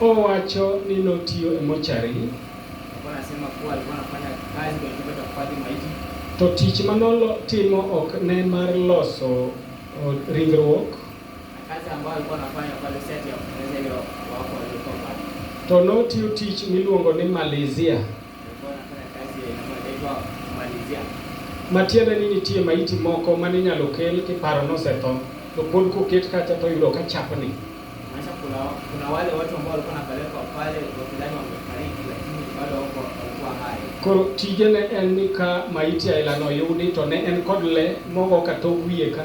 Owacho ni notiyo e mochari to tich ma notimo ok ne mar loso ringruok to notiyo tich miluongo ni Malaysia. Matiende ni nitie maiti moko mane inyalo kel kiparo nosetho to pod koket kacha to yudo ka chapni. Maisha kuna, kuna wale watu ambao walikuwa wanapelekwa pale wakidhani wamefariki lakini bado wako walikuwa hai. Koro tijene en ni ka maiti ailano yudi to ne en kod le mogo ka tok wiye ka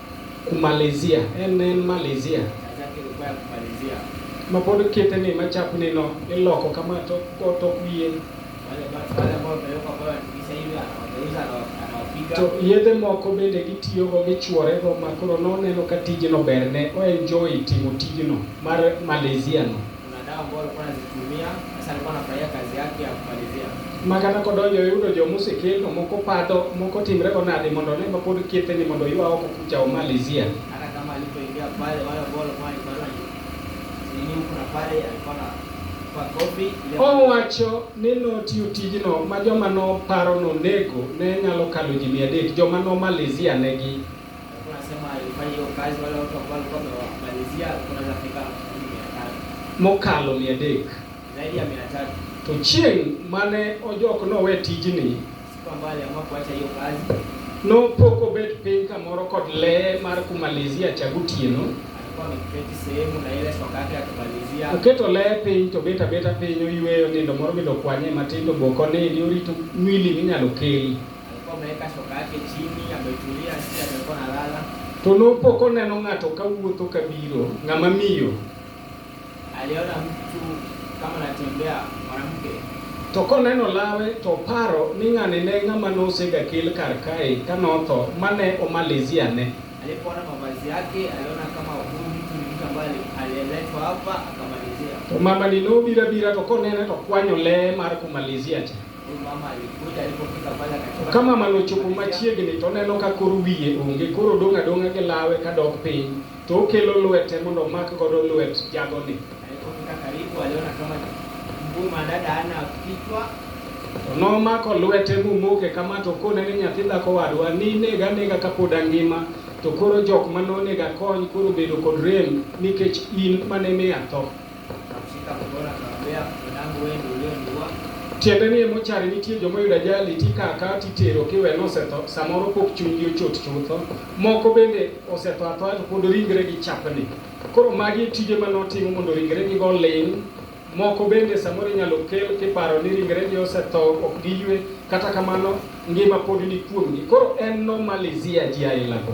Kumalizia. En ne en malizia. Ma pod kete ni ma chap ni no iloko kama to to wiye. To yedhe moko bende gitiyo go gichuore go ma koro noneno ka tijno berne o enjoy timo tijno mar malizia no. Kuna dawa ambayo alikuwa anazitumia, sasa alikuwa anafurahia kazi yake ya kumalizia. Makata kodonjo yudo jomusi kendo moko padho moko timre go nade mondo ne ma pod kiete ni mondo ywa oko kucha omalizia. Hata kama alipoingia pale wale ambao walikuwa wanaibana nini huko na pale alikuwa na kwa kofi ile Owacho ni notiyo tijno ma joma noparo nonego ne nyalo kalo ji mia adek joma nomalizia negi mokalo mia adek to chieng' mane ojok nowe tijni nopok obet piny kamoro kod lee mar kumalizia cha gotieno oketo lee piny to bet abeta piny oyweyo nindo moro midokwanye matindo boko nini orito mwili minyalo kel To nopo koneno ng'ato ka wuotho ka biro, ng'ama miyo. Aliona mtu kama anatembea mwanamke. To koneno lawe to paro ni ng'ani ne ng'ama nosega kel kar kae ka notho mane omalizia ne. Alipoona mavazi yake aliona kama huyu mtu ni mtu ambaye aliletwa hapa akamalizia. To mama ni nobira bira to konene to kwanyo le mar kumalizia cha. Ka mamano ochopo machiegni to oneno ka kor wiye onge, koro odong' adong'a gi lawe ka dok piny, to okelo lwete mondo omak godo lwet jagoni. To nomako lwete momoke kama to okone ni nyathi dhako wadwa, ninega anega kapod angima, to koro jok ma nonega kony koro obedo kod rem nikech in mane miya tho. Tiende ni mochari nitie joma oyudo ajali tikaka titero kiwe nosetho samoro pok chunygi ochot chutho. Moko bende osetho athoya to pod ringregi chapni. Koro magi tije ma notimo mondo ringregi go ling' moko bende samoro inyalo kel kiparo ni ringregi osetho ok giywe kata kamano ngima pod ni kuomgi. Koro en nomalizia ji aila go.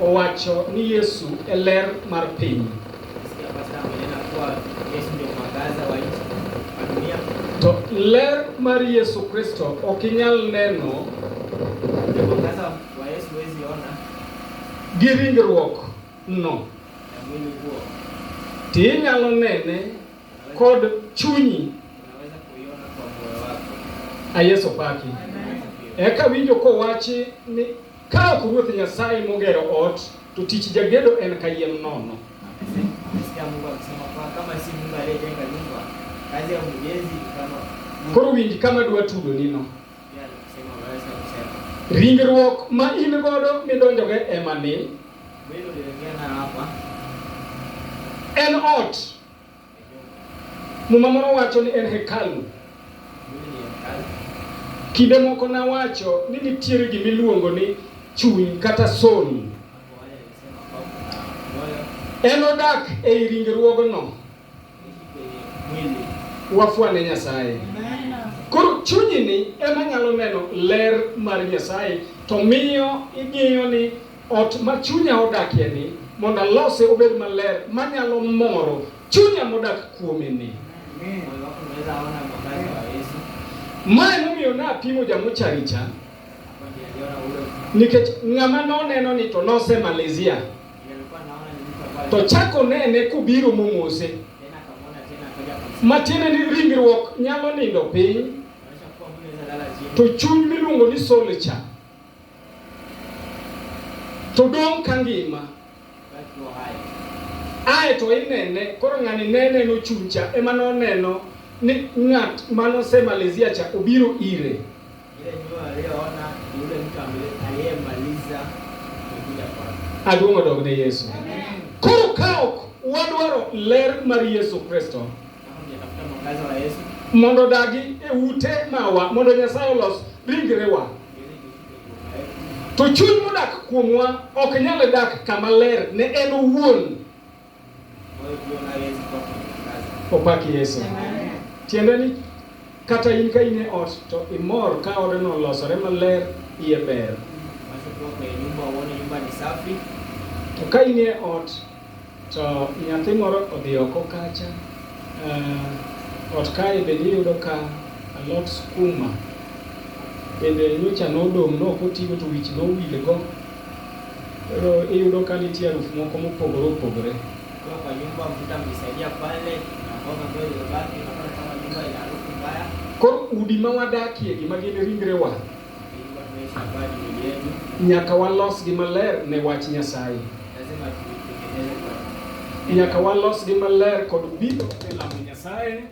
Owacho ni Yesu e ler mar piny. To ler mar Yesu Kristo ok inyal neno gi ringruok no. Ti inyalo nene kod chunyi. A Yesu paki. Eka winjo kowachi ni Ka ok Ruoth Nyasaye mogero ot, to tich jagedo en kayiem nono. Koro winj kama dwa tudo nino. Ringruok ma in godo midonjogo ema ni en ot Muma moro wacho ni en hekalu. Kinde moko nawacho ni nitiere gima iluongo ni chuny kata soul. En odak ei ringruogno. Wafwane Nyasaye. Koro chunyini ema nyalo neno ler mar Nyasaye to miyo ing'iyo ni Ot ma chunya odakie ni mondo alose obed maler manyalo moro chunya modak kuome ni. Mae momiyo napimo jamocharicha nikech ng'ama noneno ni to nose Malaysia to chako nene kobiro momose matiende ni ringruok nyalo nindo piny to chuny miluongo ni solcha to dong' ka ngima. Ae to inene, koro ng'ani ne neno chuncha ema noneno ni ng'at manosemalizia cha obiro ire. Aduong' odog ne Yesu. Koro ka ok wadwaro ler mar Yesu Kristo mondo dagi e ute mawa mondo Nyasaye olos ringrewa To chuny modak kuomwa ok nyal dak kama ler ne en owuon. Opak Yesu. Tiende ni kata in ka in e ot to imor ka odeno olosore maler iye ber. To ka in e ot To nyathi moro odhi oko kacha, uh, ot kae bende iyudo ka alot skuma bende nyocha nodong' no okotigo to wich nowilgo. Koro iyudo ka nitie harufu moko mopogore opogore. Kwa kwa nyumba mvuta mlisaidia pale na mboga ambayo iliyobaki, unaona kama nyumba ina harufu mbaya. Koro udi ma wadakie gi ma gin ringrewa Nyaka walosgi maler ne wach Nyasaye. Nyaka walosgi maler kod biro e lamo Nyasaye.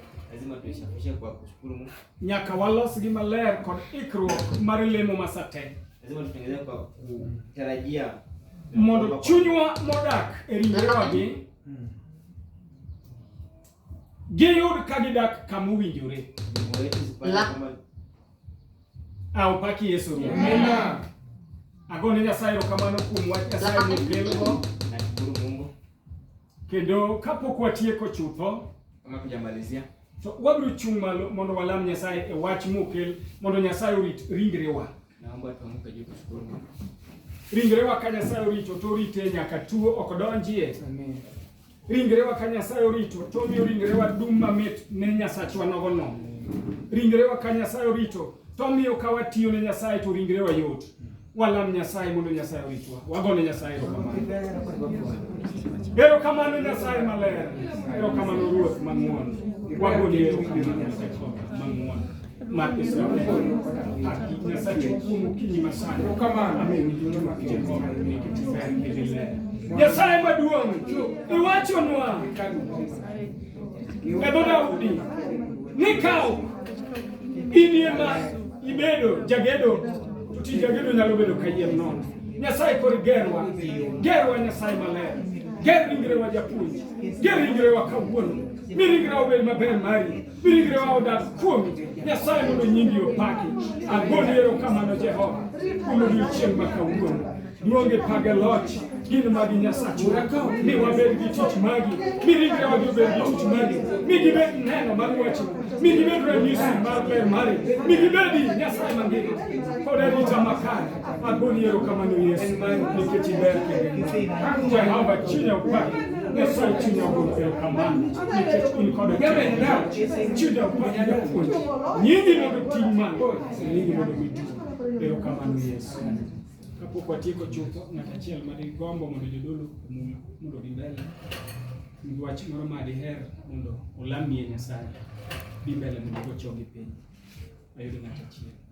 Nyaka walosgi maler kod ikruok mar lemo masate. Mondo chunywa modak e ringrewagi giyud ka gidak kama owinjore. Au paki Yesu. Amen. Agone Nyasaye erokamano kuom wach Nyasaye mokelgo. Nashukuru Mungu. Kendo kapok watieko chutho, kama tujamalizia, to wabiro chung' malo mondo walam Nyasaye e wach mokel mondo Nyasaye orit ringrewa. Naomba tuamke juu tushukuru Mungu. Ringrewa ka Nyasaye orito to orite nyaka tuo ok donjie. Amen. Ringrewa ka Nyasaye orito, to omiyo ringrewa dum mamit ne Nyasachwa nogo nono. Ringrewa ka Nyasaye orito, to omiyo ka watiyo ne Nyasaye to ringrewa yot. Walam Nyasaye mondo Nyasaye oritwa. Wagone Nyasaye erokamano. Erokamano Nyasaye maler. Erokamano Ruoth mang'won. Wagone erokamano Nyasaye mang'won. Nyasaye maduong' iwachonwa e dho Daudi ni kaw in ema ibedo jagedo to tij jagedo nyalo bedo kayiem nono. Nyasaye koro gerwa, gerwa Nyasaye maler, ger ringrewa japuonj, ger ringrewa kawuono, mi ringrewa obed maber mari Birigre wa odak kuomi, Nyasaye mondo nyingi opaki. Agoni erokamano Jehova, kuom odiechieng' ma kawuono. Duonge page loch gin magi Nyasachwa, mi wabed gi tich magi, mi ringre wagi obed gi tich magi, mi gibed neno mar wachi, mi gibed ranyisi mar ber mari, mi gibedi Nyasaye mangima kod arita makare. Agoni yero kamano Yesu nikech iber kendo Jehova chinya kwa Nyasaye chinya ogol yero kamano nikech in koda chinya kwa japuonj nyingi mondo ting' malo nyingi mondo miti yero kamano Yesu kapok watieko chutho ng'at achiel ma digombo mondo jodolo omul mondo dhi mbele nigi wach moro ma diher mondo olamie Nyasaye dhi mbele mondo kochogi piny ayudo ng'at achiel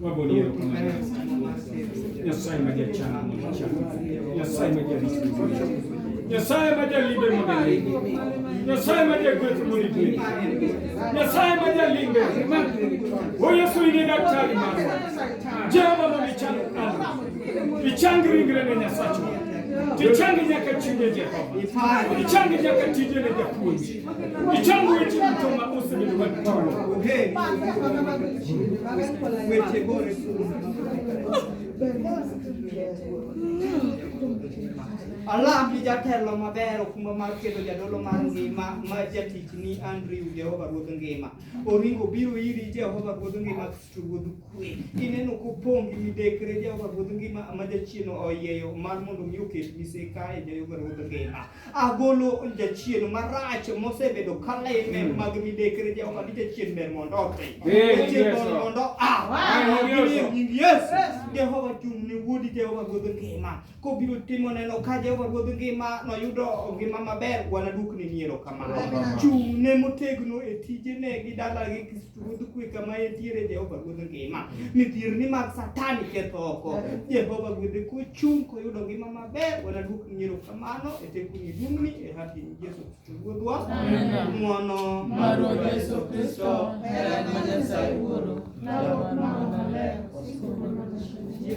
Wabonero kama Nyasaye majachana Nyasaye majarisi Nyasaye majalimbe mabele Nyasaye majagwethu mulibele Nyasaye majalimbe O Yesu ine daktari marwa Jehova mulichang alwa Ichang ringre ne Nyasacho Tichangi nyaka chinde Jehova Ichangi nyaka tije ne japuonji Ichamo weche duto ma osebedo ka gitimo. Weche gore. Alam ni jatelo maber okumba mar keto jadolo mar ngima ma jatich ni Andrew Jehova Ruodh Ngima. Oringo biro iri Jehova Ruodh Ngima Kristo Ruodh Kwe. Ineno kopong' gi midekre Jehova Ruodh Ngima ma jachieno oyieyo mar mondo mi oket miseka e Jehova Ruodh Ngima. agolo jachien marach mosebedo ka leme hmm. mag midekre Jehova ni jachien ber mondo othi jachien ber mondo a nying Yesu Jehova chung' ne wuodi Jehova ruodh ngima kobiro timo neno ka Jehova ruodh ngima noyudo ngima maber wanadukni ni erokamano chung' ne motegno e tijene gi dalagi Ruodh kwe kama entiere Jehova Ruodh ngima. Midhierni mag Satani ketho oko. Jehova gwedhe kochung' koyudo ngima maber, wanaduok nyiero kamano e tekuni duong'ni e haki ni Yesu Kristo Ruodhwa. Ng'wono mar Ruoth Yesu Kristo, hera ma Nyasaye Wuoro, lalo mar Roho Maler, osiko mar Nyasaye.